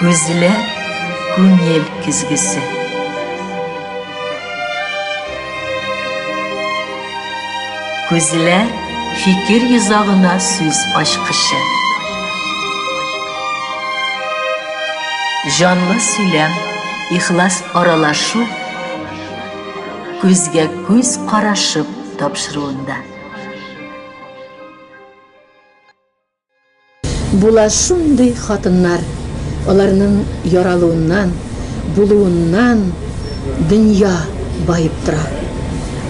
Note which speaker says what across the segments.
Speaker 1: Күзләр күңел көзгесе. Күзләр фикер йозагына сүз ачкычы. Җанлы сөйләм, ихлас аралашу күзгә күз карашып тапшыруында.
Speaker 2: Була шундый хатыннар, аларның яралуыннан, булуыннан дөнья баеп тора.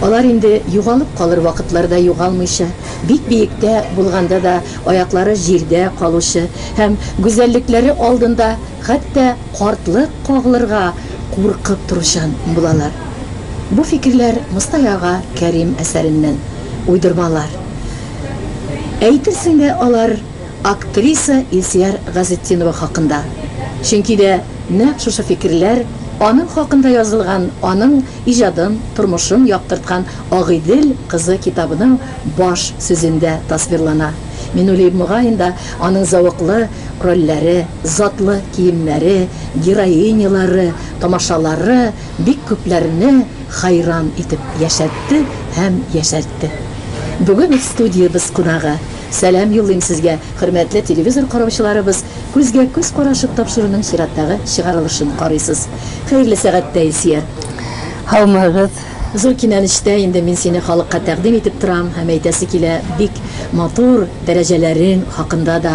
Speaker 2: Алар инде югалып калыр вакытларда югалмыйча, бик биектә булганда да аяклары җирдә калучы һәм гүзәллекләре алдында хәтта картлык кагылырга куркып торучан булалар. Бу фикерләр Мостаи ага Кәрим әсәреннән, уйдырмалар. Әйтерсең дә алар актриса Илсияр Газетдинова хакында, чөнки дә нәкъ шушы фикерләр аның хакында язылган аның иҗадын, тормышын яктырткан Агыйдел кызы китабының баш сүзендә тасвирлана. Мин уйлыйм, мөгаен да, аның зәвыклы рольләре, затлы киемнәре, героинялары, тамашалары бик күпләрне, Хәйран итеп яшәтте һәм яшәртте. Бүген студиябез кунагы. Сәлам юллыйм сезгә, хөрмәтле телевизор караучыларыбыз, күзгә күз карашып тапшыруның чираттагы чыгарылышын карыйсыз. Хәерле сәгатьтә, Илсияр. Һаумыгыз.
Speaker 3: Зур
Speaker 2: кинәнештә инде мин сине халыкка тәкъдим итеп торам һәм әйтәсе килә бик матур дәрәҗәләрең хакында да.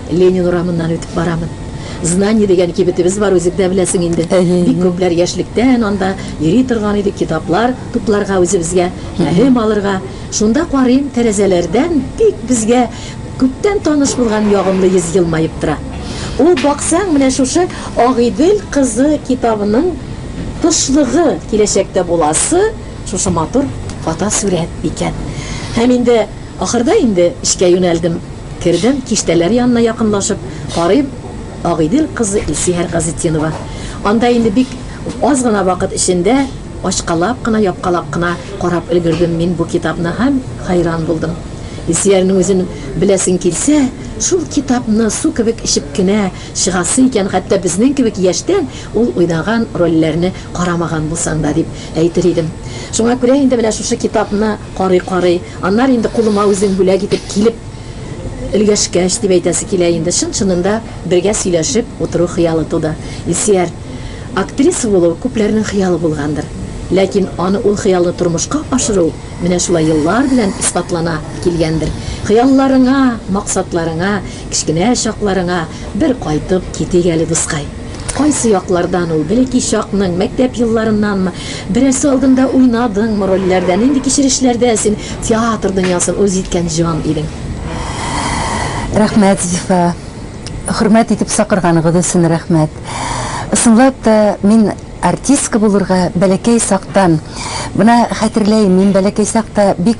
Speaker 2: Ленин урамыннан үтеп барамын. Знание дигән кибетебез бар, үзең дә беләсең инде. Бик күпләр яшьлектән анда йөри торган иде, китаплар тупларга үзебезгә, гыйлем алырга. Шунда карыйм, тәрәзәләрдән бик безгә күптән таныш булган ягымлы йөз елмаеп тора. Ул, баксаң, менә шушы Агыйдел кызы китабының тышлыгы, киләчәктә буласы шушы матур фотосурәт икән. Һәм инде ахырда инде эшкә юнәлдем. Кердем, киштәләр янына якынлашып, карыйм, Агыйдел кызы Илсиһәр Газетдинова. Анда инде бик аз гына вакыт эчендә ачкалап кына, япкалап кына карап өлгердем мин бу китапны һәм хәйран булдым. Илсиһәрнең үзен беләсең килсә, шул китапны су кебек эчеп кенә чыгасы икән, хәтта безнең кебек яшьтән ул уйнаган рольләрне карамаган булсаң да, дип әйтер идем. Шуңа күрә инде менә шушы китапны. Карый-карый, аннары инде кулыма үзең бүләк итеп килеп өлгәшкәч, дип әйтәсе килә инде. Чын-чынында бергә сөйләшеп утыру хыялы туды. Илсияр, актриса булу күпләрнең хыялы булгандыр. Ләкин аны ул хыялны тормышка ашыру менә шулай еллар белән исбатлана килгәндер. Хыялларыңа, максатларыңа, кечкенә чакларыңа бер кайтып китик әле, дускай. Кайсы яклардан ул? Бәлки, чакның, мәктәп елларыннанмы? Берәрсе алдында уйнадыңмы рольләрдә? Нинди кичерешләрдә син театр дөньясын үз иткән җан идең? Рәхмәт,
Speaker 3: Зифа. Хөрмәт итеп сакырганыгыз өчен рәхмәт. Ысынлап та, мин артистка булырга бәләкәй чактан, менә хәтерләйм, мин бәләкәй чакта бик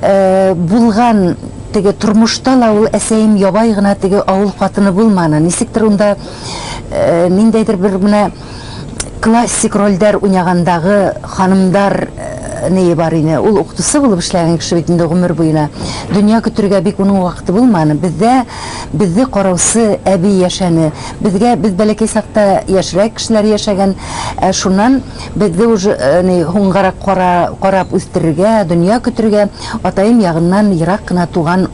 Speaker 3: Булган теге тормышта ла ул әсәем ябай гына теге авыл хатыны булманы. Нисектер унда ниндәйдер бер менә классик рольдәр уйнагандагы ханымдар ние бар иде. Ул укытучы булып эшләгән кеше бит инде гомер буена. Дөнья көтергә бик уның вакыты булманы. Бездә безне караучы әби яшәне. Безгә без бәләкәй чакта яшьрәк кешеләр яшәгән. Ә шуннан Безне уж ни һуңгарак кара, карап үстерергә, дөнья көтергә атаем ягыннан ерак кына туган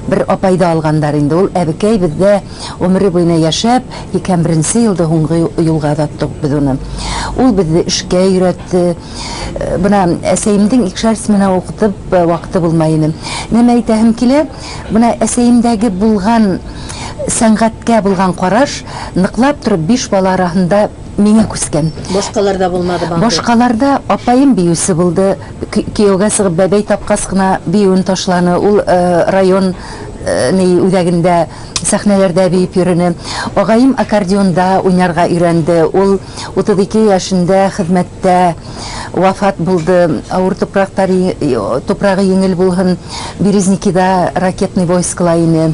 Speaker 3: бер апайды алганнар инде. Ул әбекәй бездә гомере буена яшәп, 81 елда һуңгы юлга озаттык без уны. Ул безне эшкә өйрәтте. Бына әсәемдең икшәр смена укытып вакыты булмай иде. Нәмә әйтәһем килә, бына әсәемдәге булган сәнгатькә булган караш ныклап торып биш бала араһында Миңа күчкән. Башкаларда булмады
Speaker 2: бандык. Башкаларда апаем
Speaker 3: биюче булды. Кияүгә чыгып бәбәй тапкач кына биюен ташланы. Ул район ни үзәгендә сәхнәләрдә биеп йөрүне. Агаем аккордеонда уйнарга өйрәнде. Ул 32 яшендә хезмәттә вафат булды. Авыр туфракта туфрагы йиңел булһын. Березникида ракетный войскла ине.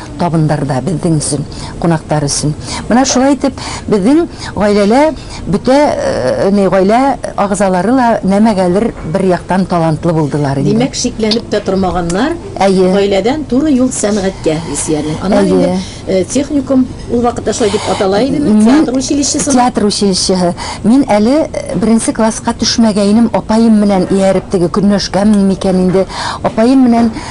Speaker 3: Табындарда безнең өчен, кунаклар өчен. Менә шулай итеп, безнең гаиләлә бөтә не гаилә агзалары ла нәмәгәдер бер яктан талантлы булдылар инде. Димәк, шикләнеп тә
Speaker 2: тормаганнар, Әйе. гаиләдән туры юл сәнгатькә, Илсиярнең. Аннан Әйе. инде техникум, ул вакытта шулай дип атала идеме, Мин театр училищесына? театр училищеһы.
Speaker 3: Мин әле беренче класска төшмәгәйнем, апаем менән ияреп, теге Көнләшкәмени микән инде, апаем менән,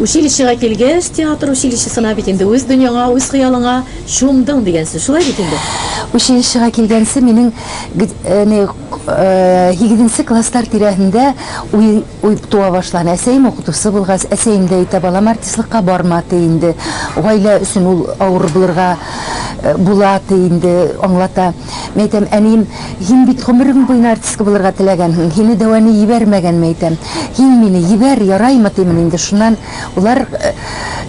Speaker 3: Училищега
Speaker 2: килгәч, театр училищесына бит инде үз дөньяңа, үз хыялыңа чумдың дигәнче, шулай бит инде? Училищега
Speaker 3: килгәнче минем гд не һигезенче класслар тирәһендә уй уй туа башлаган. Әсәем укытучы булгач, әсәем дә әйтә, балам, артистлыкка барма, ти инде, гаилә өчен ул авыр булырга була, ди инде, аңлата. Мин әйтәм, әнием, һин бит гомерең буена артистка булырга теләгәнһең, һине дәваны җибәрмәгәнме, әйтәм. Һин мине җибәр, яраймы, димени инде, шуннан болар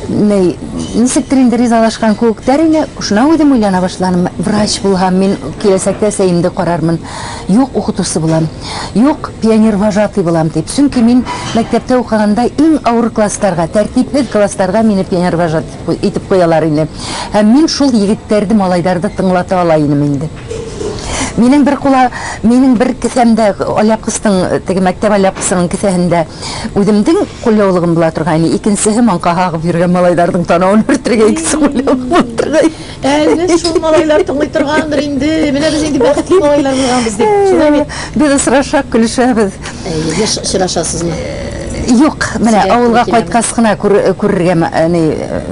Speaker 3: ни, ничектер инде ризалашкан куыктар ине, шуннан үзем уйлана башладым, врач булган, мин киләчәктә сәемде карармын, юк, укытучы булам, юк, пионервожатый булам, дип, чөнки мин мәктәптә укыганда иң авыр классларга, тәртипһез классларга мине пионервожатый. итеп куялар иде. Һәм мин шул егетләрде, малайларды тыңлата ала инем инде. Минем бер кула, минем бер кесәмдә алъяпкысның, теге мәктәп алъяпкысының кесәһендә үземдең кулъяулыгым була торган иде, икенчесе маңка кагып йөргән малайларның танавын бөртергә икесе кулъяулык булып торган иде. Ә без шул
Speaker 2: малайлар тыңлый торгандыр инде. Менә без инде бәхетле малайлар булганбыз дип. Шулай бит. Без сорашак,
Speaker 3: көлешәбез. Әйе,
Speaker 2: сорашасызмы?
Speaker 3: Юк, менә авылга кайткас кына күрергә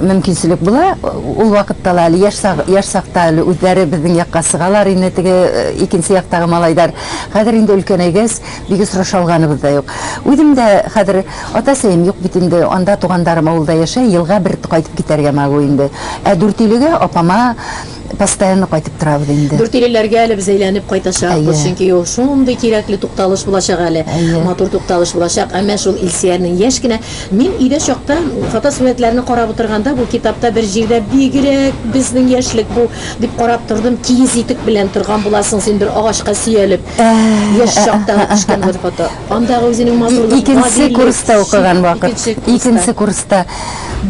Speaker 3: мөмкинчелек була. Ул вакытта ла әле яшь сак, яшь сакта әле үзләре безнең якка сыгалар инде теге икенче яктагы малайлар. Хәзер инде өлкәнәйгәч, Бик осраша алганыбыз да юк. Үзем дә хәзер ата-сәем юк бит инде, анда тугандарым авылда яшәй, елга бер кайтып китәргә могу инде. Ә Дүртөйлегә апама постоянно кайтып торабыз инде. Дүртөйлеләргә әле без әйләнеп
Speaker 2: кайтачакбыз, Әйе. чөнки ул шундый кирәкле тукталыш булачак әле, Әйе. матур тукталыш булачак. Ә менә шул Илсиярнең яшь кенә, мин өйдә чакта фотосурәтләрне карап утырганда, бу китапта бер җирдә бигрәк безнең яшьлек бу, дип карап тордым, киез итек белән торган буласың син бер агачка сөялеп. Яшь чакта ук төшкән бер фото. Андагы үзенең матурлык, гадилек. Икенче курста
Speaker 3: укыган вакыт. Икенче курста.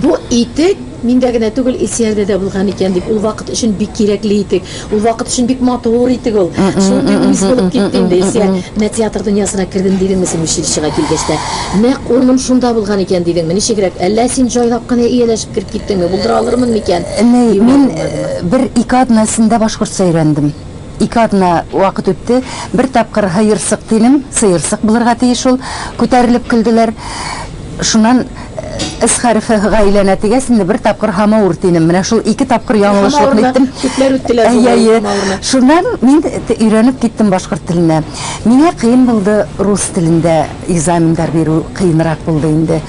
Speaker 3: Бу
Speaker 2: итек миндә генә түгел, Илсиярдә дә булган икән, дип, ул вакыт өчен бик кирәкле итек. Ул вакыт өчен бик матур итек ул. Шундый үз булып китте инде, Илсияр. Менә театр дөньясына кердем дидеңме син училищега килгәч тә? Нәкъ урыным шунда булган икән дидеңме? Ничегрәк? Әллә син җайлап кына ияләшеп кереп киттеңме? Булдыра алырмын микән? Мин
Speaker 3: бер-ике атна эчендә башкортча өйрәндем. Ике атна вакыт үтте. Бер тапкыр һыерсык дидем, сыерсык булырга тиеш ул. Күтәрелеп көлделәр. Шуннан С хәрефе Һга әйләнә дигәс, инде бер тапкыр һамаур дидем. Менә шул ике тапкыр яңлышлыкны иттем. Күпләр үттеләр бу һамаур.
Speaker 2: Шуннан
Speaker 3: мин өйрәнеп киттем башкорт теленә. Миңа кыен булды рус телендә. Экзаменнар бирү кыенрак булды инде.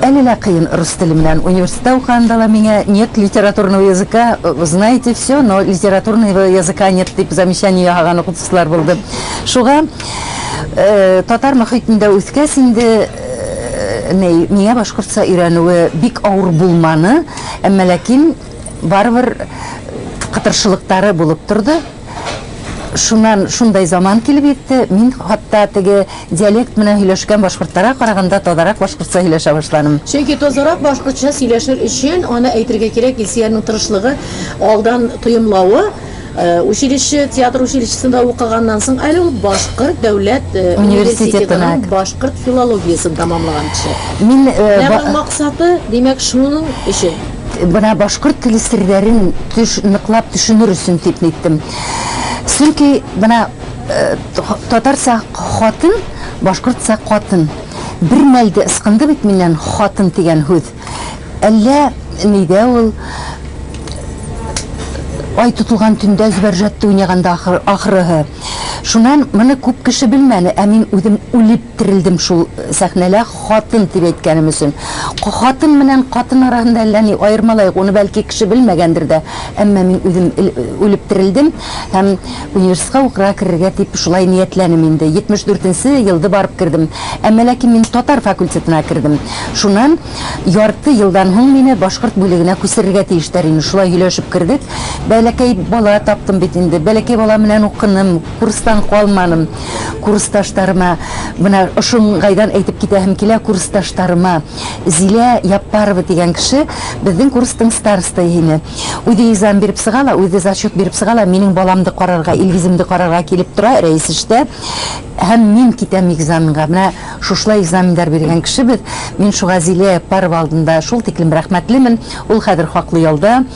Speaker 3: Әле лә кыен, рус теле белән университетта укыганда да миңа нет литературного языка, знаете всё, но литературного языка нет дип замечание яһаган укытучылар булды. Шуга татар мохитендә үскәч инде ни, миңа башкортча өйрәнүе бик авыр булманы, әмма ләкин барыбер кытыршылыктары булып торды. Шуннан шундай заман килеп йитте, мин хатта теге диалект менән һөйләшкән башкортларга караганда тазарак башкортча һөйләшә башладым. Чөнки тазарак
Speaker 2: башкортча сөйләшер өчен, аны әйтергә кирәк, Илсиярның тырышлыгы, алдан тоемлавы, училище, театр училищесында укыганнан соң, әле ул башкорт дәүләт университетының башкорт филологиясен тәмамлаган кеше. Менә
Speaker 3: аның максаты,
Speaker 2: димәк, шуның өчен. Менә башкорт
Speaker 3: теле серләрен төш, ныклап төшенер өчен дип ниттем. Чөнки менә э, татарча хатын, башкортча катын. Бер мәлдә ысқынды бит миннән хатын дигән һүз. Әллә нидә ул ай тотылган төндә зөбәрҗәтте уйнаганда ахыр, ахырыһы. Шуннан моны күп кеше белмәне, ә мин үзем үлеп терелдем шул сәхнәлә Хатын дип әйткәнем өчен. Хатын менән катын арасында әллә ни аермалай юк, уны бәлки кеше белмәгәндер дә, әмма мин үзем үлеп терелдем һәм университетка укырга керергә дип шулай ниятләнем инде. 74 нче елды барып кердем. Әмма ләкин мин татар факультетына кердем. Шуннан ярты елдан һуң мине башкорт бүлегенә күчерергә тиештәр инде, шулай һөйләшеп кердек. Бәләкәй бала таптым бит инде, бәләкәй бала менән укыным. Курстан калмадым. Курсташтарыма, менә ошынгайдан әйтеп китәһем килә, курсташтарыма, Зилә Яппарова дигән кеше безнең курстың старостае иде. Үзе экзамен биреп сыга ла, үзе зачет биреп сыга ла, минем баламды карарга, Илгиземне карарга килеп тора, Рәис эштә, һәм мин китәм экзаменга. Менә шушылай экзаменнар биргән кеше без. Мин шуңа Зилә Яппарова алдында шул тиклем рәхмәтлемен. Ул хәзер хаклы ялда.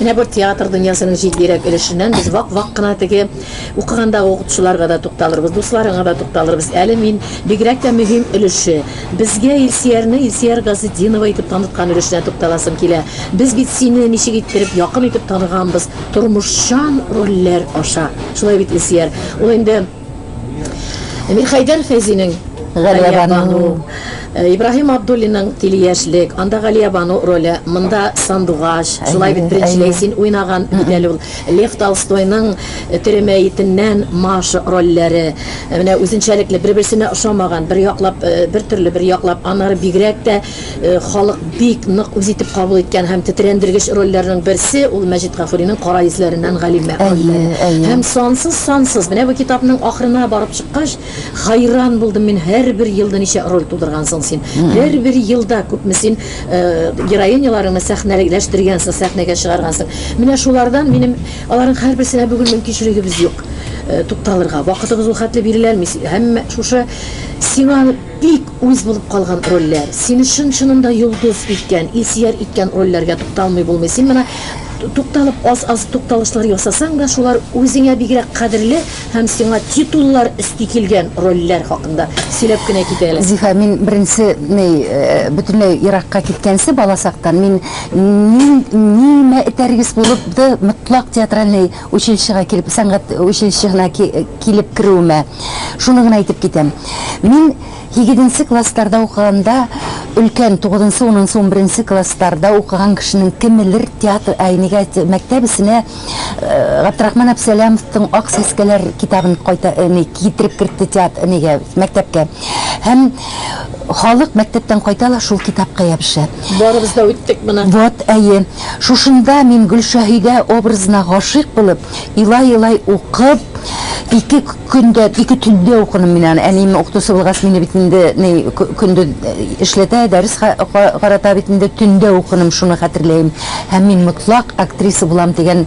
Speaker 3: Менә бу театр
Speaker 2: дөньясының җитдирәк өлешеннән без вак-вак кына теге укыгандагы укытучыларга да тукталырбыз, дусларыңа да тукталырбыз. Әле мин бигрәк тә мөһим өлеше, безгә Илсиярне Илсияр Газетдинова итеп таныткан өлешенә тукталасым килә. Без бит сине ничек иттереп якын итеп таныганбыз, тормышчан рольләр аша. Шулай бит, Илсияр? Ул инде. Мирхәйдәр Фәйзинең Галиябану, Ибраһим Абдуллинның Тилияшлек, анда Галиябану роле, монда Сандугач, шулай бит, беренчеләй син уйнаган бит әле ул. Лев Толстойның Тере мәетеннән Маша рольләре, менә үзенчәлекле, бер-берсенә ошамаган, бер яклап бер төрле, бер яклап аннары бигрәк тә, халык бик нык үз итеп кабул иткән һәм тетрәндергеч рольләрнең берсе, ул Мәҗит Гафуринең Кара йөзләреннән Галимә рольләре. Һәм сансыз-сансыз, менә бу китапның ахырына барып чыккач, хәйран булдым мин, һәрбер елда ничә роль тудыргансың син, һәрбер елда күпме син героиняларыңны сәхнәләштергәнсең, сәхнәгә чыгаргансың. Менә шулардан минем, аларның һәрберсенә бүген мөмкинчелегебез юк тукталырга, вакытыбыз ул хәтле бирелә алмый, һәммә шушы сиңа, Бик үз булып калган рольләр. Сине чын-чынында йолдыз иткән, Илсияр иткән рольләргә тукталмый булмый. Син менә тукталып аз-аз тукталышлар ясасаң да, шулар үзеңә бигрәк кадерле һәм сиңа титуллар өсти килгән рольләр хакында сөйләп кенә кит әле. Зифа, мин беренче
Speaker 3: ней, бөтенләй еракка киткәнче, балачактан мин ни, нимә этәргеч булып ды, мотлак театральный Училищега килеп, сәнгать училищегына килеп керүемә шуны гына әйтеп китәм. Мин һигеденче классларда укыганда, өлкән, тугызынчы, унынчы, унберенче классларда укыган кешенең кемелер театр, әй, нигә әйтә, мәктәп эченә Габдрахман Абсәләмовтың Ак сәскәләр китабын кайта, ни, китереп кертте теат, нигә, мәктәпкә. Һәм халык мәктәптән кайта ла шул китапка ябыша. Барыбыз да үттек
Speaker 2: моны. Вот, әйе.
Speaker 3: Шушында мин Гөлшаһидә образына гашыйк булып, илай-илай укып, ике көндә, ике төндә укыдым мин аны. Әнием укытучы булгач, мине бит инде ни көндез эшләтә, дәрес карата бит инде, төндә укыдым, шуны хәтерләем. Һәм мин мотлак актриса булам дигән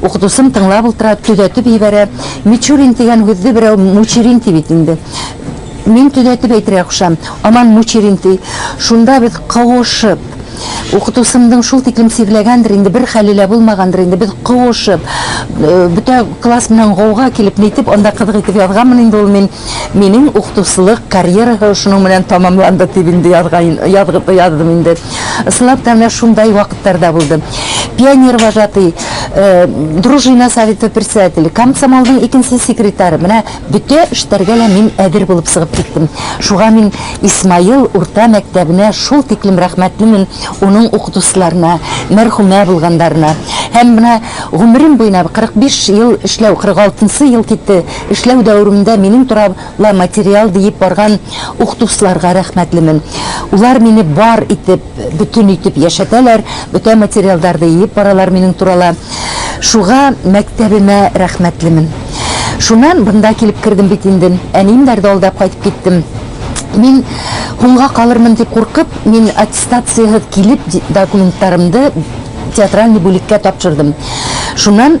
Speaker 3: Укытучым тыңлап утыра, төзәтеп җибәрә, Мичурин дигән һүзне берәү Мучерин ди бит инде. Мин төзәтеп әйтергә кушам, аман Мучерин ди. Шунда без куышып, укытучымның шул тиклем сирләгәндер инде, бер хәле лә булмагандыр инде, без куышып, бөтә класс белән гауга килеп, нитеп анда кызык итеп язганмын инде ул мин. Минем укытучылык карьераһы шуның белән тәмамланды, дип инде яздым инде. Ысынлап та, менә шундай вакытлар да булды. Пионервожатый, дружина советы председателе, комсомолның икенче секретаре, менә бөтә эшләргә лә мин әзер булып чыгып киттем. Шуңа мин Исмаил урта мәктәбенә шул тиклем рәхмәтлемен, уның укытучыларына, мәрхүмә булганнарына. Һәм менә гомерем буена, 45 ел эшләү, 46 нчы ел китте, Эшләү дәверемдә минем тора ла материал диеп барган ухдусларга рәхмәтлемен. Улар мине бар итеп, бөтен итеп яшәтәләр, бөтә материалдарды иеп баралар минем турала. Шуга мәктәбемә рәхмәтлемен. Шуннан бында килеп кердем бит инде. Әнием бәрде алдап кайтып киттем. Мин һуңга калырмын дип куркып, мин аттестацияһыз килеп документларымды театральный бүлеккә тапшырдым. Шуннан.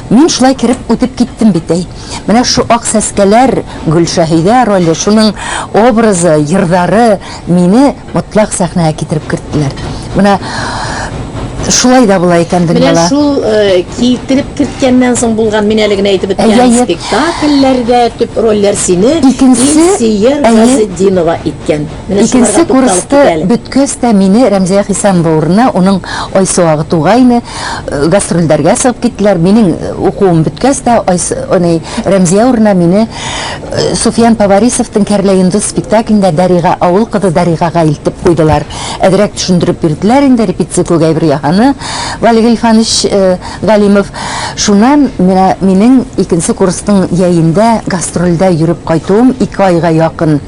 Speaker 3: Мин шулай кереп үтеп киттем бит, әй. Менә шу ак сәскәләр, Гөлшәһидә роле, шуның образы, йырдары мине мотлак сәхнәгә китереп керттеләр. Менә шулай да була икән дөньяла. Менә шул
Speaker 2: китереп керткәннән соң булган, мин әле генә әйтеп үткән спектакльләрдә төп рольләр сине Илсөя Газетдинова иткән. Икенче курсты
Speaker 3: беткәч тә мине Рәмзия Хисамова урынына уның Айсуагы тугайны, гастрольләргә чыгып киттеләр. Минем укуым беткәч тә Рәмзия урынына мине Суфиян Поварисовтың Кәрләйондыз спектаклендә Дәрига, авыл кызы Дәригага илтеп куйдылар. Әзрәк төшендереп бирделәр инде, репетиция күк әйбер яһаны Валик Гыйльфанович Галимов. Шуннан менә минем икенче курсның җәендә гастрольдә йөреп кайтуым ике айга якын.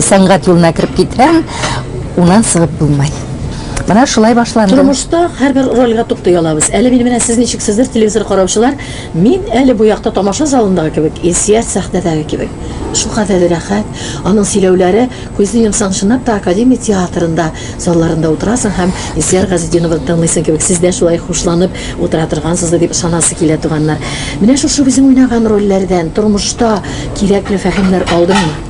Speaker 3: сәнгать юлына кереп китһәң, унан сыгып булмай. Менә шулай башланды. Тормышта һәрбер
Speaker 2: рольгә туктый алабыз. Әле мин менә сез ничексездер, телевизор караучылар, мин әле бу якта тамаша залындагы кебек, Илсөяр сәхнәдәге кебек. Шулкадәр рәхәт. Аның сөйләүләре, күзне йомсаң, чынлап та Академия театрында, залларында утырасың һәм Илсөяр Газетдиновны тыңлыйсың кебек, сез дә шулай хушланып утыра торгансыздыр дип ышанасы килә, туганнар. Менә шушы үзең уйнаган рольләрдән тормышта кирәкле фәһемнәр алдыңмы?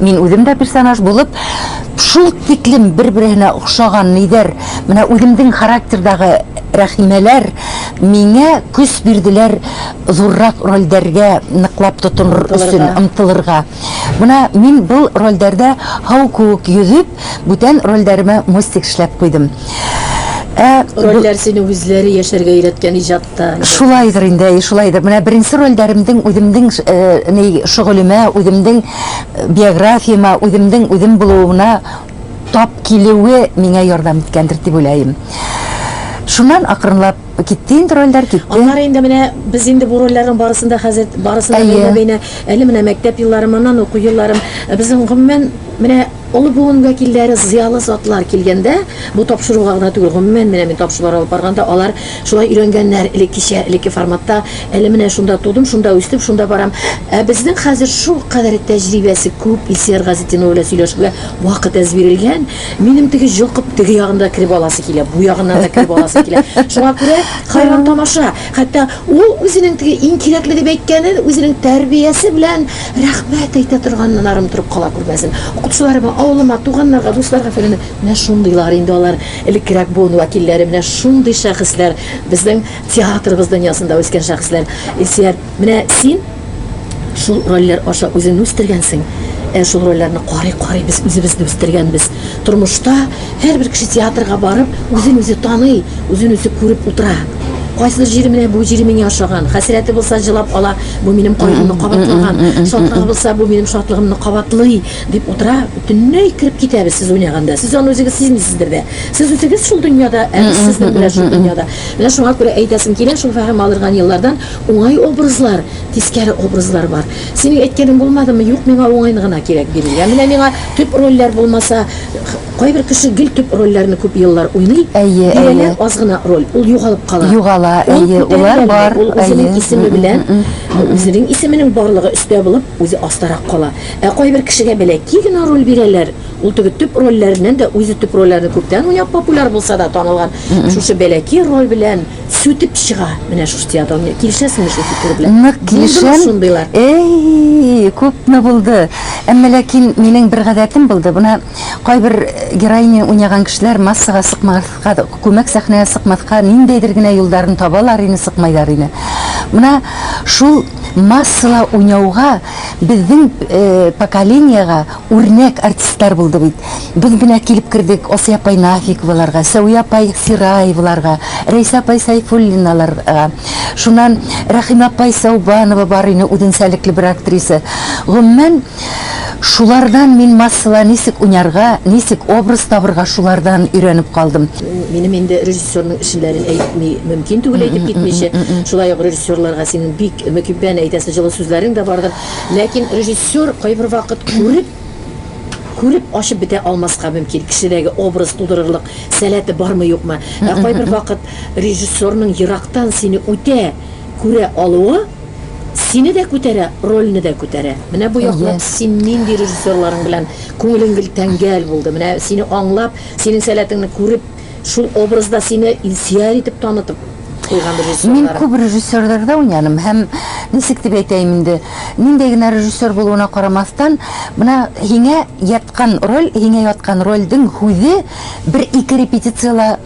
Speaker 3: Мин үзем дә персонаж булып, шул тиклем бер-береһенә охшаган нидер, менә үземдең характердагы Рәхимәләр миңа көч бирделәр зуррак рольдәргә ныклап тотыныр өчен, омтылырга. Менә мин был рольдәрдә һау куык йөзеп, бүтән рольдәремә мостик эшләп куйдым. Ә.
Speaker 2: Рольдәр сине үзләре яшәргә өйрәткән иҗат. Шулайдыр инде, әй,
Speaker 3: шулайдыр. Менә беренче рольдәремдең үземнең э, ни шөгылемә, үземнең э, биографияма, үземнең үзем булуына тап килүе миңа ярдәм иткәндер дип уйлыйм. Шуннан акрынлап китте инде рольләр китте. Аннары инде менә
Speaker 2: без инде бу рольләрнең барысында хәзер барысында бәйнә бәйнә әле менә мәктәп елларым, аннан уку елларым. Э, безнең гомумән менә олы буын вәкилләре, зыялы затлар килгәндә, бу тапшыруга гына түгел, гомумән менә мин тапшырулар алып барганда алар Шулай өйрәнгәннәр, элеккечә, элекке форматта. Әле менә шунда тудым, шунда үстем, шунда барам. Ә безнең хәзер шулкадәр тәҗрибәсе күп, Илсияр Газетдинова белән сөйләшергә вакыт әз бирелгән. Минем теге йолкып теге ягына да кереп аласы килә, бу ягына да кереп аласы килә. Шуңа күрә хәйран тамаша. Хәтта ул үзенең теге иң кирәкле дип әйткәнен үзенең тәрбиясе белән рәхмәт әйтә торганына ырым торып кала күрмәсен. Укытучыларыма, авылыма, туганнарга, дусларга-фәләнгә. Менә шундыйлар инде алар. Элеккерәк буын вәкилләре менә шундый шәхесләр, безнең театрыбыз дөньясында үскән шәхесләр. Илсөяр, менә син шул рольләр аша үзеңне үстергәнсең. Ә шул рольләрне карый-карый без үзебезне үстергәнбез. Тормышта һәрбер кеше театрга барып, үзен үзе таный, үзен үзе күреп утыра. Кайсыдыр җире менә бу җире миңа ошаган, хәсрәте булса җылап ала, бу минем кайгымны кабатлаган, шатлыгы булса, бу минем шатлыгымны кабатлый, Дип утыра, бөтенләй кереп китәбез сез уйнаганда. Сез аны үзегез сизмисездер дә. Сез үзегез шул дөньяда, ә без сезнең белән шул дөньяда. Менә шуңа күрә әйтәсем килә, шул фәһем алырган еллардан уңай образлар, тискәре образлар бар. Синең әйткәнең булмадымы, юк, миңа уңайны гына кирәк бирергә. Менә миңа төп рольләр булмаса, кайбер кеше гел төп рольләрне күп еллар уйный, Әйе, әйе. бирәләр аз гына роль, ул югалып кала. Югала, Ул әйе, улар күтәрелә генә, бар,
Speaker 3: ул әйе. үзенең исеме
Speaker 2: белән, үзенең исеменең барлыгы өстә булып, үзе астарак кала. Ә кайбер кешегә бәләкәй генә роль бирәләр, ул теге төп рольләреннән дә, үзе төп рольләрне күптән уйнап популяр булса да, танылган, шушы бәләкәй роль белән сүтеп чыга менә шушы театр. Килешәсеңме шул фикер белән? Нык килешәм. Булдымы
Speaker 3: шундыйлар? Әй, күпме булды. Әмма ләкин минем бер гадәтем булды, менә кайбер героиня уйнаган кешеләр массага сыкмаска, күмәк сәхнәгә сыкмаска ниндәйдер генә юлларын табалар иде, сыкмыйлар иде. Менә шул. Массала уйнауга безнең поколениега үрнәк артистлар булды бит. Без менә килеп кердек Асия апай Нафиковаларга, Сәвия апай Сираеваларга, Рәйсә апай Сәйфуллиналарга. Шуннан Рәхимә апай Сәүбанова бар ине, үзенчәлекле бер актриса. Гомумән, Шулардан мин массала ничек уйнарга, ничек образ табырга шулардан өйрәнеп калдым. Минем инде
Speaker 2: режиссерның эшенләрен әйтми мөмкин түгел әйтеп китмичә. Шулай ук режиссерларга синең бик мөкиббән әйтәсе җылы сүзләрең дә бардыр. Ләкин режиссер кайбер вакыт күреп күреп ачып бетә алмаска мөмкин, кешедәге образ тудырырлык сәләте бармы-юкмы. Ә кайбер вакыт режиссерның ерактан сине үтә күрә алуы, Сине дә күтәрә, рольне дә күтәрә. Менә бу яклап син нинди режиссерларың белән күңелең гел тәңгәл булды? Менә сине аңлап, синең сәләтеңне күреп, шул образда сине Илсияр итеп танытып куйган режиссерлар. Мин күп режиссерларда
Speaker 3: уйнадым һәм, ничек дип әйтәем инде, ниндәй генә режиссер булуына карамастан, менә һиңә яткан роль, һиңә яткан рольдең һүзе бер-ике репетициядә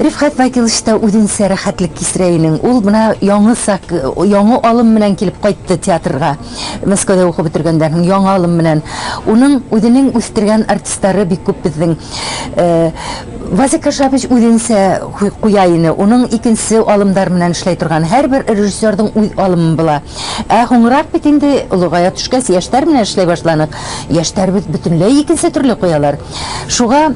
Speaker 3: Рифгать Вәкилович та үзенчә рәхәтлек кичерә инең. Ул менә яңы сак, яңы алым менән килеп кайтты театрга. Мәскәүдә укып бетергәндән соң яңа алым менән. Уның үзенең үстергән артистлары бик күп безнең. Вася Кашабыч үзенчә куя ине. Уның икенче алымдар менән эшләй торган. Һәрбер режиссерның үз алымы була. Ә һуңрак бит инде, олыгая төшкәч, яшьтәр менән эшләй башланык. Яшьтәребез бөтенләй икенче төрле куялар. Шуга.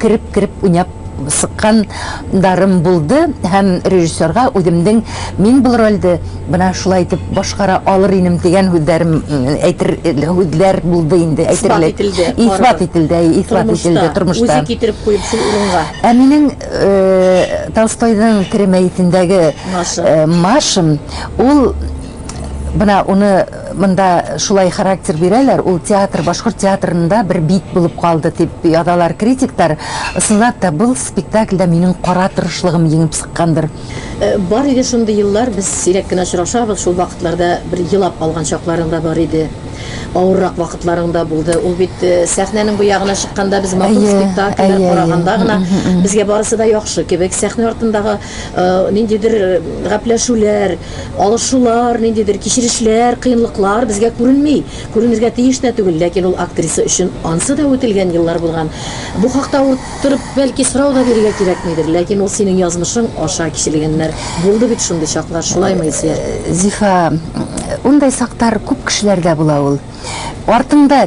Speaker 3: кереп-кереп уйнап сыккан дарым булды һәм режиссерга үземнең мин бул рольде менә шулай итеп башкара алыр инем дигән һүзләрем әйтер һүзләр булды инде әйтерлек. Исбат ителде, әйе, исбат ителде тормышта. Үзе китереп куеп шул
Speaker 2: урынга. Ә минем
Speaker 3: Толстойның Тере мәетендәге Машин, ул менә уны Монда шулай характер бирәләр, ул театр башкорт театрында бер бит булып калды, дип язалар критиктар. Ысынлап та, был спектакльдә минем кара тырышлыгым еңеп сыккандыр. Бар иде
Speaker 2: шундый еллар, без сирәк кенә очрашабыз, шул вакытларда бер елап алган чакларың да бар иде. Авыррак вакытларың да булды. Ул бит сәхнәнең бу ягына чыкканда, без матур спектакльләр караганда гына, безгә барысы да яхшы кебек, сәхнә артындагы ниндидер гапләшүләр, алышулар, ниндидер кичерешләр, кыенлыклар безгә күренми, күренергә тиеш тә түгел, ләкин ул актриса өчен ансы да үтелгән еллар булган. Бу хакта утырып, бәлки, сорау да бирергә кирәкмидер, ләкин ул синең язмышың аша кичелгәннәр. Булды бит шундый чаклар, шулаймы, Илсөяр? Зифа,
Speaker 3: ундай сактар күп кешеләрдә була ул. Артыңда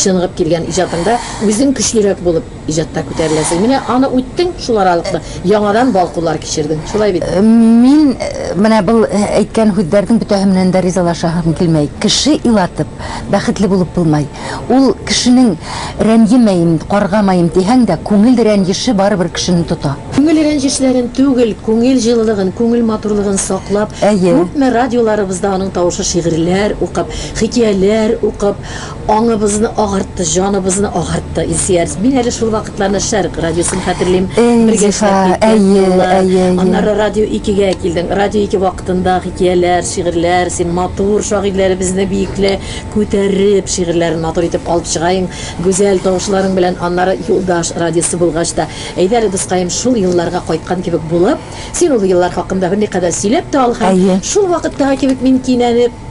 Speaker 2: Чыныгып килгән иҗатыңда үзең көчлерәк булып иҗатта күтәреләсең. Менә аны үттең, шул аралыкны яңадан балкулар кичердең. Шулай бит? Мин
Speaker 3: менә был әйткән һүзләрнең бөтәһе менән дә ризалашаһым килмәй. Кеше илатып, бәхетле булып булмай. Ул кешенең рәнҗемәем, каргамаем дисәң дә, күңел рәнҗеше барыбер кешене тота. Күңел рәнҗешләрен
Speaker 2: түгел, күңел җылылыгын, күңел матурлыгын саклап, Әйе. күпме радиоларыбызда аның тавышы шигырьләр укып, хикияләр укып, Аңыбызны агартты, җаныбызны агартты Илсөяр. Мин әле шул вакытларны Шәрык радиосын хәтерлим. Бергә эшләп киткән. Аннары радио 2-гә килдең. Радио 2 вакытында хикәяләр, шигырьләр, син матур шагыйрьләребезне биекле күтәреп, шигырьләрен матур итеп алып чыгаең, гүзәл тавышларың белән. Аннары Юлдаш радиосы булгач та, әйдә әле, дускаем, шул елларга кайткан кебек булып, син ул еллар хакында берникадәр сөйләп тә ал һәм шул вакыттагы кебек мин кинәнеп,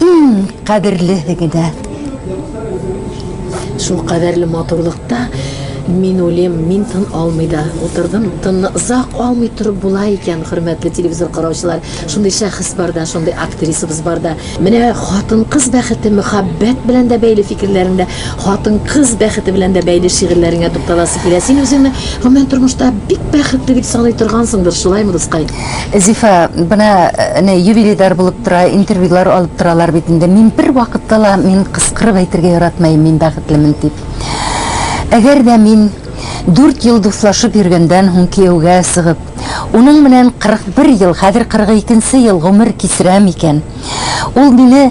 Speaker 3: Иң кадерлеһе генә.
Speaker 2: Шул кадәрле матурлыкта мин үлем, мин тын алмый да утырдым. Тынны озак алмый торып була икән, хөрмәтле телевизор караучылар. Шундый шәхес бар да, шундый актрисабыз бар да. Менә хатын-кыз бәхете мөхәббәт белән дә бәйле фикерләрең дә, хатын-кыз бәхете белән дә бәйле шигырьләреңә тукталасы килә. Син үзеңне гомумән тормышта бик бәхетле дип саный торгансыңдыр, шулаймы, дускай? Зифа,
Speaker 3: бына әнә юбилейдар булып тора, интервьюлар алып торалар бит инде. Мин бер вакытта ла мин кыскырып әйтергә яратмаем, мин бәхетлемен дип. Әгәр дә мин дүрт ел дуслашып йөргәндән һуң кияүгә сыгып, уның менән 41 ел, хәзер 42 нче ел гомер кичерәм икән, Ул мине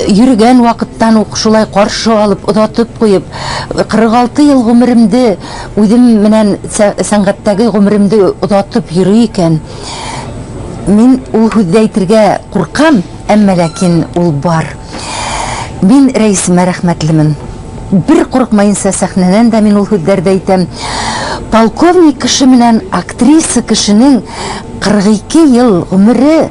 Speaker 3: йөргән вакыттан ук шулай каршы алып, озатып куеп, 46 ел гомеремде үзем менән сәнгатьтәге гомеремде озатып йөри икән, мин ул һүзде әйтергә куркам, әмма ләкин ул бар. Мин Рәисемә рәхмәтлемен. Бер курыкмаенча сәхнәнән дә мин ул һүзләрде әйтәм. Полковник кеше менән актриса кешенең 42 ел гомере,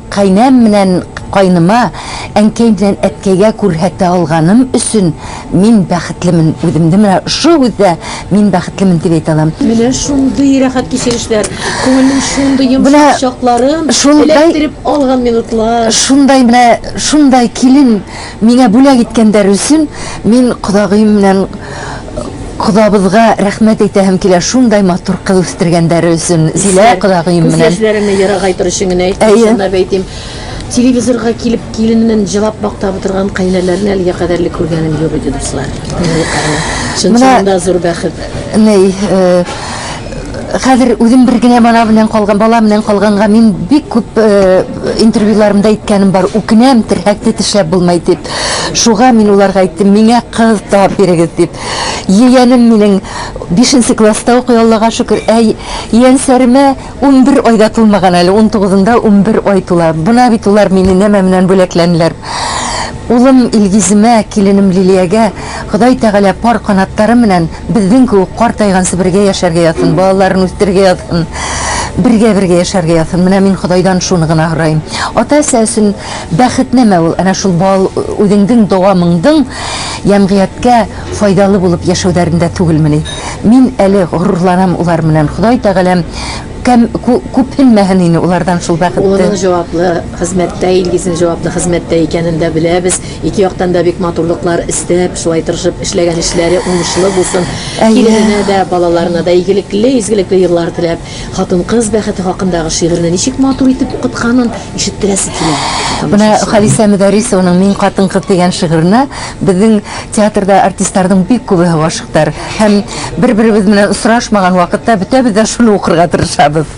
Speaker 3: Кайнәм менән кайныма, әнкәй белән әткәйгә күрһәтә алганым өчен мин бәхетлемен. Үземне менә шул һүздә мин бәхетлемен дип әйтә алам. Менә шундый
Speaker 2: рәхәт кичерешләр, күңелнең шундый йомшак чакларын эләктереп алган минутлар. Шундай менә
Speaker 3: шундай килен. Миңа бүләк иткән дәресен мин кодагыем белән кодабызга рәхмәт әйтәһем килә, шундай матур кыз үстергән дәре өчен. Зилә кодагыем белән. Күз яшьләремне ерагайтыр өчен генә әйтәм, шунда әйтим. Телевизорга килеп киленен җылап мактап утырган кайнәләрне әлегә кадәрле күргәнем юк иде, дуслар. Менә зур бәхет. Ней, э, Хәзер үзем бер генә бала белән калган, бала белән калганга мин бик күп интервьюларымда әйткәнем бар, үкенәм, терһәкне тешләп булмый дип. Шуга мин уларга әйттем, миңа кыз табып бирегез дип. Егәнем минем 5 нче класста укый, Аллага шөкер, ә янсәремә 11 айда тулмаган әле, 19 нда 11 ай тула. Бына бит улар мине нәмә менән бүләкләнләр. Улым Илгиземә, киленем Лилиягә Ходай Тәгалә пар канатлары менән Безнең кебек картайган Себергә яшәргә язсын, балаларын үстерергә язсын, бергә-бергә яшәргә язсын. Менә мин Ходайдан шуны гына һораем. Ата-әсә өчен бәхет нәмә ул? Әнә шул бал, үзеңдең дәвамыңдың ямгыятькә файдалы булып яшәүләрендә түгелмени? Мин әле горурланам улар менән. Ходай Тәгаләм кәм, ку, күпһенмәһен ине улардан шул бәхетте. Улының җаваплы
Speaker 2: хезмәттә, Илгизнең җаваплы хезмәттә икәнен дә беләбез. Ике яктан да бик матурлыклар эстәп, шулай тырышып эшләгән эшләре уңышлы булсын. Килененә дә, балаларына да игелекле, изгелекле еллар теләп, хатын-кыз бәхете хакындагы шигырьне ничек матур итеп укытканын ишеттерәсе килә. Менә Халисә
Speaker 3: Мөдәрисованың Мин хатын-кыз дигән шигыренә безнең театрда артистларның бик күбеһе гашыйктар һәм бер-беребез белән очрашмаган вакытта бөтәбез дә шуны укырга тырышабыз.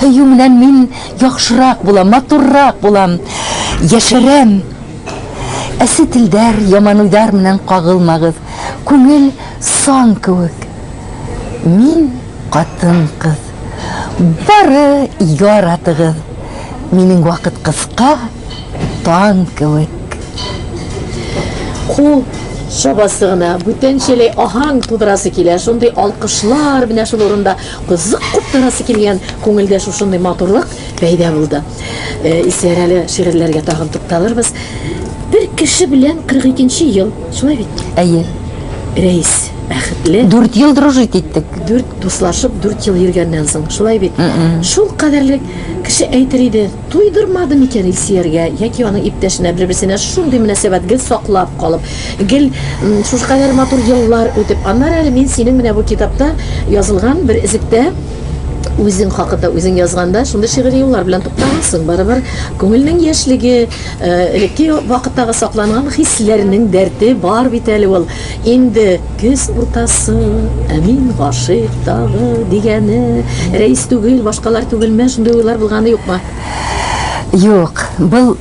Speaker 3: Һөю менән мин яхшырак булам, матуррак булам, яшәрәм. Әсе телдәр, яман уйлар менән кагылмагыз. Күңел сан кебек. Мин катын-кыз. Бары яратыгыз. Минем вакыт кыска, тан кебек.
Speaker 2: Кул чабасы гына, бүтәнчәләй аһаң тудырасы килә. Шундый алкышлар менә шул урында. Кызык куп тарасы килгән күңелдә шушындый матурлык пәйда булды. Исиярәле шигырьләргә тагын тукталырбыз. Бер кеше белән 42 нче ел, шулай бит? Әйе.
Speaker 3: Рәис
Speaker 2: бәхетле. Дүрт ел дружить
Speaker 3: иттек. Дүрт дуслашып,
Speaker 2: дүрт ел йөргәннән соң, шулай бит? Шул кадәрлек кеше әйтер иде. Туйдырмады микән Илсияргә яки аның иптәшенә бер-берсенә шундый мөнәсәбәт гел саклап калып, гел шушы кадәр матур еллар үтеп, аннары әле мин синең менә бу китапта язылган бер өзектә үзең хакында үзең язганда шундый шигъри юллар белән туктагансың, барыбер күңелнең яшьлеге, элекке вакыттагы сакланган хисләрнең дәрте бар бит әле ул. Инде көз уртасы, ә мин гашыйк тагы, дигәне, Рәис түгел, башкалар түгелме, шундый уйлар булганы юкмы? Юк,
Speaker 3: был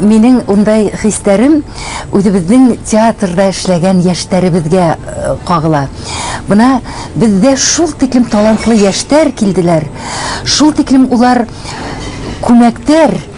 Speaker 3: минең ундай хисләрем үзебезнең театрда эшләгән яшьтәребезгә кагыла. Бына бездә шул тиклем талантлы яшьтәр килделәр, шул тиклем улар күмәктәр.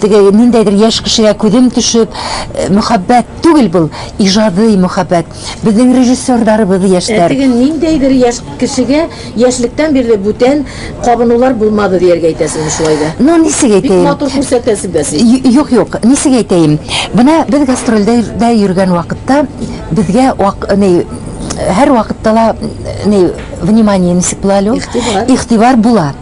Speaker 3: Теге ниндәйдер яшь кешегә күзем төшеп, мөхәббәт түгел бул, иҗадый мөхәббәт. Безнең режиссерларыбыз яшьтәр. Теге ниндәйдер
Speaker 2: яшь кешегә яшьлектән бирле бүтән кабынулар булмады дияргә әйтәсеңме шулай да? Ну, нисек әйтәем? Бик матур
Speaker 3: күрсәтәсең дә
Speaker 2: син. Юк, юк, нисек
Speaker 3: әйтәем? Менә без гастрольдә дә йөргән вакытта безгә вак, ни, һәрвакытта ла, ни, внимание нисек була әле ул? Игътибар. Игътибар була.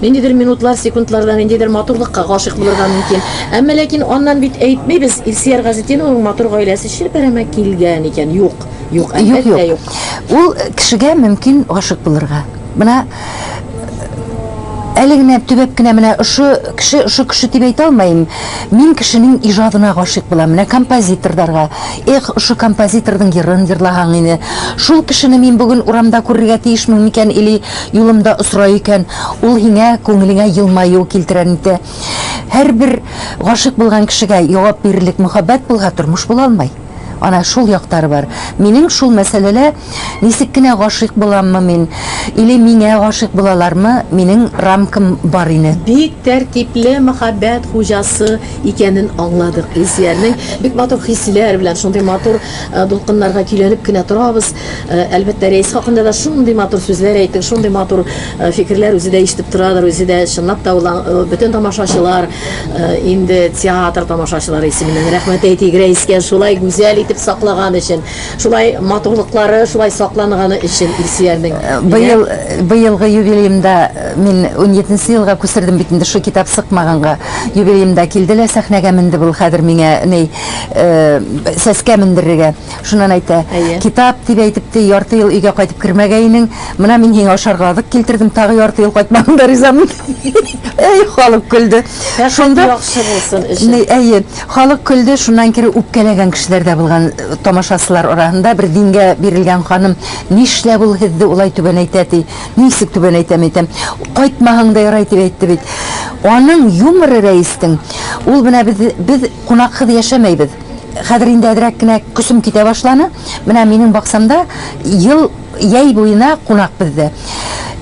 Speaker 2: Ниндидер минутлар, секундларда ниндидер матурлыкка гашыйк булырга мөмкин. Әмма ләкин аннан бит әйтмибез, Илсияр Газетдиновның матур гаиләсе челпәрәмә килгән икән. Юк. Юк, әлбәттә юк. Ул
Speaker 3: кешегә мөмкин гашыйк булырга.
Speaker 2: Менә
Speaker 3: әле генә төбәп кенә менә ошо кеше, ошо кеше дип әйтә алмыйм. Мин кешенең иҗадына гашыйк булам. Менә композиторларга. Эх, ошо композиторның йырын йырлаһаң иде. Шул кешене мин бүген урамда күрергә тиешмен микән или Юлымда осрай икән, ул һиңә күңелеңә елмаю килтерер инде. Һәрбер гашыйк булган кешегә явап бирерлек мөхәббәт булһа, тормыш була алмый. Ана шул яктары бар. Минем шул мәсьәләлә ничек кенә гашыйк буламмы мин, или миңа гашыйк булалармы, минең рамкам бар ине. Бик тәртипле
Speaker 2: мәхәббәт хуҗасы икәнен аңладык Илсиярнең. Бик матур хисләр белән, шундый матур дулкыннарга көйләнеп кенә торабыз. Әлбәттә, рәис хакында да шундый матур сүзләр әйтте, шундый матур фикерләр үзе дә ишетеп торадыр, үзе дә чынлап та ул бөтен тамашачылар инде театр тамашачылары исеменнән рәхмәт әйтик рәискә шулай гүзәл итеп саклаган өчен, шулай матурлыклары шулай сакланганы өчен Илсөярнең. Быел
Speaker 3: быелгы юбилеемда мин унҗиденче елга күчердем бит инде шул китап сыкмаганга. Юбилеемда килде лә сәхнәгә менде бул хәзер миңа ни сәскә мендерергә. Шуннан әйтә, Әйе. китап дип әйтеп те, ярты ел өйгә кайтып кермәгәйнең, менә мин һиңа ашарга азык килтердем, тагы ярты ел кайтмадың да ризамын. Әй, халык көлде. Шунда яхшы
Speaker 2: булсын өчен. Әйе, халык көлде,
Speaker 3: шуннан кире үпкәләгән кешеләр дә булган э, тамашасылар арасында бер дингә бирелгән ханым, нишләп ул һезде улай түбәнәйтә ди, нисек түбәнәйтә мәйтәм, кайтмаһаң да ярай дип әйтте бит. Аның юморы рәистең, ул менә без, без кунаксыз яшәмәйбез. Хәзер инде әзрәк кенә көчем китә башланы. Менә минем баксамда ел яй буена кунак бездә.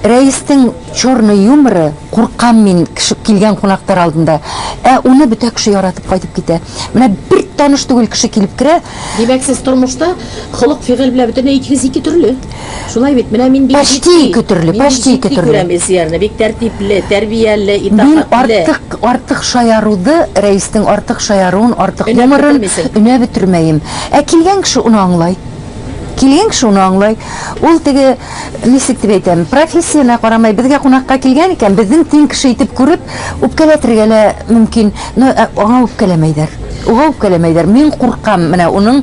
Speaker 3: Рәистең чорны юморы, куркам мин кеше килгән кунактар алдында. Ә уны бөтә кеше яратып кайтып китә. Менә бер таныш түгел кеше килеп керә. Димәк, сез тормышта
Speaker 2: холык-фигыль белән бөтенләй икегез ике төрле. Шулай бит, менә мин бик Почти җитди. ике төрле, Мин бик
Speaker 3: почти ике җитди төрле. күрәм Илсиярне.
Speaker 2: Бик тәртипле, тәрбияле, Мин итагатьле. артык,
Speaker 3: артык шаяруды, Рәиснең артык шаяруын, артык Өнәп юморын бетермисең. өнәп бетермәем. Ә килгән кеше уны аңлай. Килгән кеше уны аңлай. Ул теге, ничек дип әйтәм, профессиянә карамый, безгә кунакка килгән икән, безнең тиң кеше итеп күреп, үпкәләтергә лә мөмкин. Но, ә аңа үпкәләмәйләр. Уга үпкәләмәйләр. Мин куркам менә уның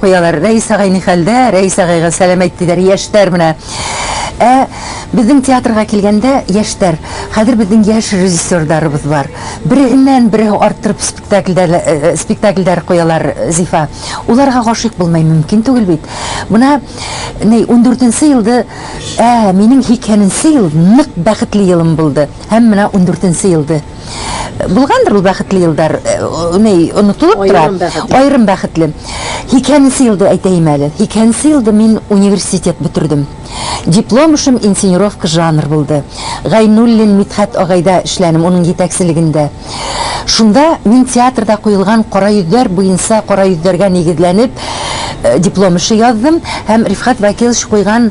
Speaker 3: Куялар, Рәис агай ни хәлдә? Рәис агайга сәлам әйт, диләр, яшьтәр менә. Ә безнең театрга килгәндә, яшьтәр, хәзер безнең яшь режиссерларыбыз бар. Береһеннән береһе арттырып спектакльдәр, спектакльдәр куялар, Зифа. Уларга гашыйк булмай мөмкин түгел бит. Менә ни, ундүртенче елды, ә минем һикһәненче ел нык бәхетле елым булды. Һәм менә ундүртенче елды. Булгандыр ул бәхетле елдар, ни, онытылып тора. Айрым бәхетле. Айрым бәхетле. Икенче елда әйтәем әле. Икенче елда мин университет бетердем. Диплом эшем инсценировка жанр булды. Гайнуллин Мидхәт агайда эшләнем, уның җитәкчелегендә. Шунда мин театрда куелган кара йөзләр буенча кара йөзләргә нигезләнеп диплом эше яздым һәм Рифхат Вәкилович куйган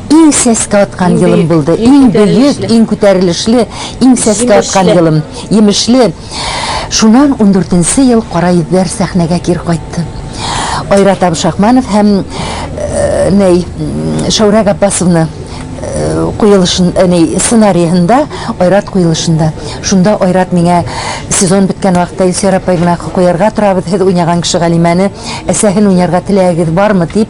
Speaker 3: Иң сәскә аткан елым булды. Иң бөек, иң күтәрелешле, иң сәскә аткан елым. Емешле. Шунан ундүртенче ел Кара йөзләр сәхнәгә кир кайтты. Айрат Абшахманов һәм ней Шәүрә Габбасовны куелышын, ней сценариенда Айрат куелышында. Шунда Айрат миңа сезон беткән вакытта Илсөяр апай гөнаһ куярга торабыз, һез уйнаган кеше Галимәне, әсәһен уйнарга теләгегез бармы? дип,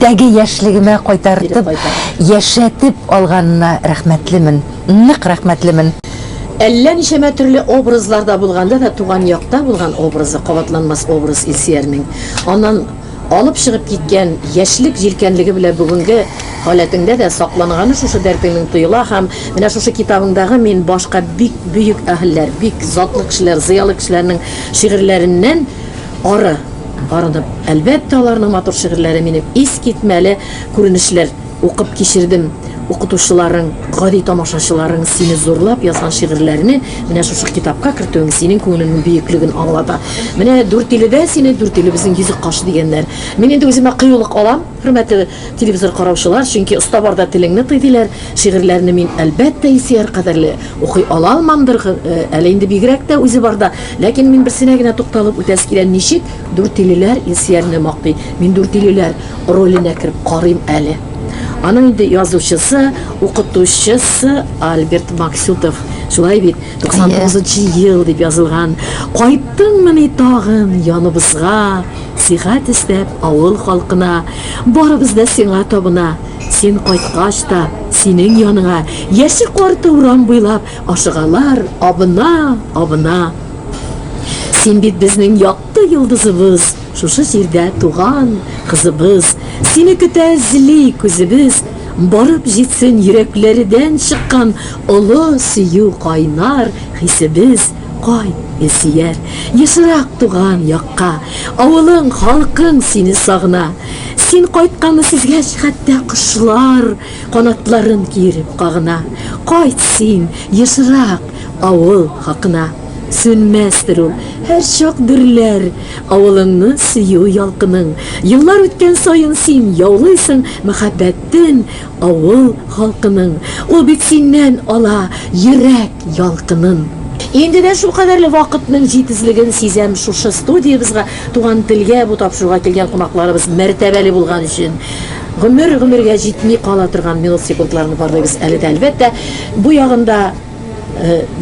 Speaker 3: Теге яшьлегемә кайтартып, яшәтеп алганына рәхмәтлемен. Нык рәхмәтлемен. Әллә
Speaker 2: ничәмә төрле образларда булганда да туган якта булган образы кабатланмас образ Илсиярнең. Аннан алып чыгып киткән яшьлек җилкәнлеге белән бүгенге халәтеңдә дә сакланганы шушы дәртеңнең тоела һәм менә шушы китабыңдагы мин башка бик бөек әһелләр, бик затлы кешеләр, зыялы кешеләрнең шигырьләреннән Ары, ары дип, әлбәттә, аларның матур шигырьләре минем искитмәле күренешләр. Укып кичердем укытучыларың, гади тамашачыларың сине зурлап язган шигырьләрне менә шушы китапка кертүең синең күңелеңнең бөеклеген аңлата. Менә Дүртиледә сине Дүртилебезнең йөзек кашы дигәннәр. Мин инде үземә кыюлык алам, хөрмәтле Телевизор караучылар, чөнки оста барда телеңне тый, диләр. Шигырьләрне мин, әлбәттә, Илсөяр кадәрле укый ала алмамдыр әле инде, бигрәк тә үзе барда. Ләкин мин берсенә генә тукталып үтәсе килә, ничек Дүртөйлеләр Илсөярне мактый. Мин Дүртөйлеләр роленә кереп карыйм әле. Аның инде язучысы, укытучысы Альберт Максютов. Шулай бит, 99 нчы ел дип язылган. Кайттыңмыни тагын яныбызга? сихәт эстәп, авыл халкына, Барыбыз да сиңа табына, Син кайткач та, синең яныңа, Яше карты урам буйлап, Ашыгалар, абына, абына. Син бит безнең якты йолдызыбыз, Шушы җирдә туган кызыбыз, Сине көтә эзли күзебез, Барып җитсен йөрәкләрдән чыккан Олы сөю кайнар хисебез. Кайт, Илсөяр, ешрак туган якка, авылың, халкың сине сагына. Син кайтканны сизгәч, хәтта кошлар канатларын киереп кагына. Кайт син, ешрак, авыл хакына. Сүнмәстер ул, һәрчак дөрләр авылыңны сөю ялкының. Еллар үткән саен син яулыйсың мәхәббәтен, Авыл халкының, ул бит синнән ала йөрәк ялкынын. Инде дә шулкадәрле вакытның җитезлеген сизәм Шушы студиябезга Туган телгә бу тапшыруга килгән кунакларыбыз мәртәбәле булган өчен гомер-гомергә җитми кала торган минут-секундларны барлыйбыз әле дә, әлбәттә, бу ягында.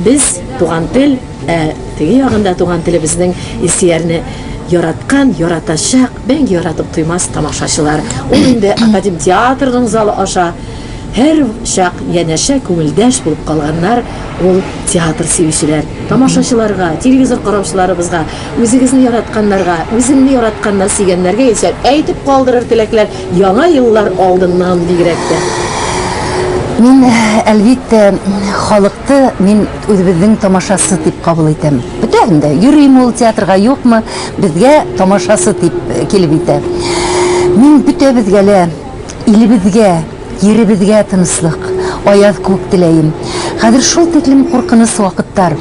Speaker 2: Без туган тел, ә теге ягында туган телебезнең Илсиярне яраткан, яратачак, мәңге яратып туймас тамашачылар. Ул инде Академ театрының залы аша һәр чак янәшә күңелдәш булып калганнар ул театр сөючеләр. Тамашачыларга, телевизор караучыларыбызга, үзегезне яратканнарга, үзеңне яратканнар, сөйгәннәргә исә әйтеп калдырыр теләкләр. Яңа еллар алдыннан бигрәк тә.
Speaker 3: Мин, әлбиттә, халыкты мин үзебезнең тамашасы дип кабул итәм. Бөтәһен дә, йөрим ул театрга, юкмы, безгә тамашасы дип килеп итә. Мин бөтәбезгә лә, илебезгә, йиребезгә тынычлык, аяз күк теләем. Хәзер шул тиклем куркыныч вакыттар.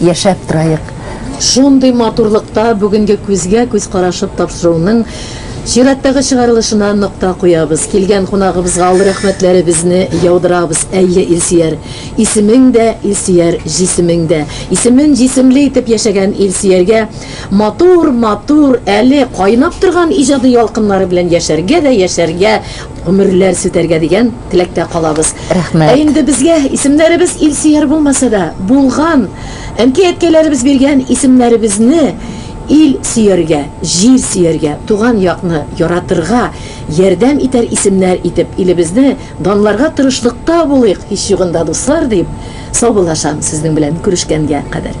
Speaker 3: яшәп торайык. Шундый
Speaker 2: матурлыкта бүгенге күзгә-күз карашып тапшыруның чираттагы чыгарылышына нокта куябыз. Килгән кунагыбызга олы рәхмәтләребезне яудырабыз. Әйе, Илсөяр, исемең дә Илсөяр, җисемең дә. Исемен җисемле итеп яшәгән Илсөяргә матур-матур, әле кайнап торган иҗади ялкыннары белән яшәргә дә яшәргә Гомерләр сүтәргә дигән теләктә калабыз. Рәхмәт. Ә инде безгә исемнәребез илсөяр булмаса да, булган, әнкәй-әткәйләребез биргән исемнәребезне ил сөяргә, җир сөяргә, туган якны яратырга ярдәм итәр исемнәр итеп илебезне данларга тырышлыкта булыйк, һич югында, дуслар, дип саубуллашам сезнең белән күрешкәнгә кадәр.